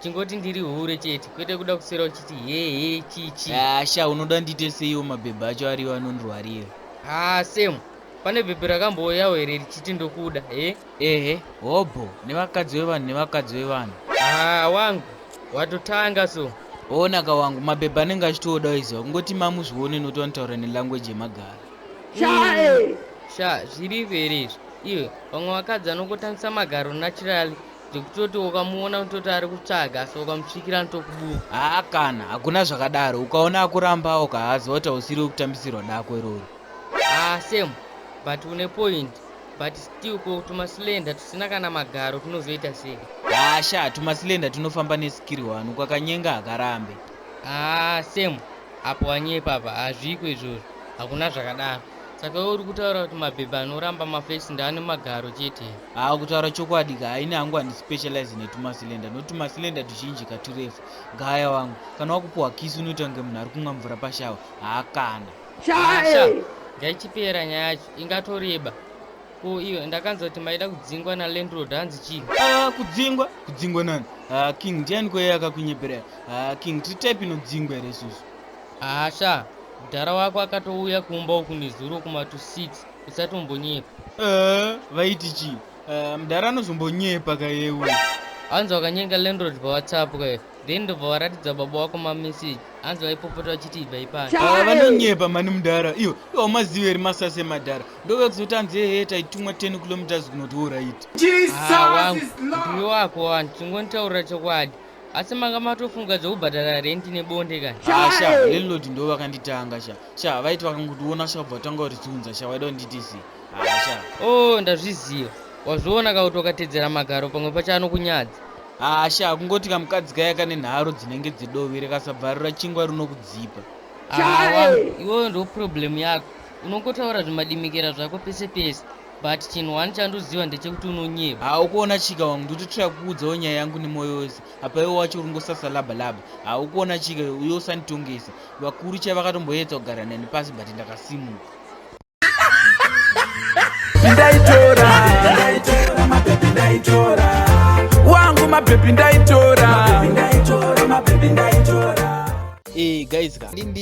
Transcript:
chingoti ndiri hure chete kwete kuda kuswera uchiti hehe chii chii Ah, sha unoda ndiite seiwo mabhebhe acho ariwo anondirwarira haa sam pane bhebhe rakambouyawo here richiti ndokuda he ehe hobho nevakadzi vevanhu nevakadzi vevanhu haa wangu watotanga so oonaka wangu mabhebhe anenge achitooda waiziva kungoti mamuzvione noti vanotaura nelanguage yemagara sha zviripo here izvo iwe vamwe vakadzi vanongotangisa magaro naturally zvekutoti ukamuona kutoti ari kutsvaga asi ukamusvikira anotokubuka haa kana hakuna zvakadaro ukaona akurambawo kahazi wati hausiri wekutambisirwa dako irori haa same but une point but still ko tumasilenda tusina kana magaro tunozoita sei haa sha tumasilenda tunofamba neskiri wani kwakanyenga hakarambe haa same apo wanyepa apa hazviko izvozvo hakuna zvakadaro Saka iwe uri kutaura kuti mabhebha anoramba mafesi ndaane magaro chete here? Haa kutaura chokwadi ka ini hangu handispecialize netumasilenda nokuti tumasilenda tuzhinji ka turefu. Gaya wangu, kana wakupuhwa kisi unoita kunge munhu ari kumwa mvura pashawa. Haa kana. Haa sha, ngaichipera nyaya yacho, ingatoreba. Ko iwe ndakanzwa kuti maida kudzingwa nalandlord hanzi chii? Haa kudzingwa? Kudzingwa nani? Haa king ndiani ko iye akakunyepera? Haa king tiri type inodzingwa here isusu? Haa sha mdhara wako akatouya kumba uku nezuro kuma to six usatombonyepa. Aah vaiti chii aah mdhara anozombonyepa ka iye uyu. Hanzi wakanyenga landlord pa whatsapp ka then ndobva waratidza baba wako ma message hanzi vaipopota vachiti ibvai pano. Aah vanonyepa mhani mdhara ivo ivo haumazivi here masasi emadhara ndouya kuzoti hanzi ehe taitumwa 10 kilometres kunoti horaiti. Haa wangu mdiwe wako wani chingonitaurira chokwadi asi manga matofunga zvekubhadhara rent nebonde kani ah, sha landlord ndo vakanditanga sha sha vaiti vakangotiona sha kubva tanga kutiunza sha waida kunditi zi ah, sha o oh, ndazviziva wazviona kauti wakatedzera magaro pamwe pacho anokunyadza ah, sha kungoti kamukadzi kaya kane nharo dzinenge dzedovi rekasabvarura chingwa rinokudzipa awa iwoyo ndo problem yako unongotaura zvimadimikira zvako pese pese But chinhu one chandoziva ndechekuti unonyepa. Haa ukuona chika wangu ndototira kukuudzawo nyaya yangu nemoyo wese apa iwe wacho uri ngosasa laba laba. Haa ukuona chika uye usanditongese. Vakuru chai vakatomboyedza kugara neni pasi but ndakasimuka. Ndaitora, ndaitora, mapepi ndaitora. Wangu mapepi ndaitora. Mapepi ndaitora, mapepi ndaitora. Eh, guys ka. Ndimbi.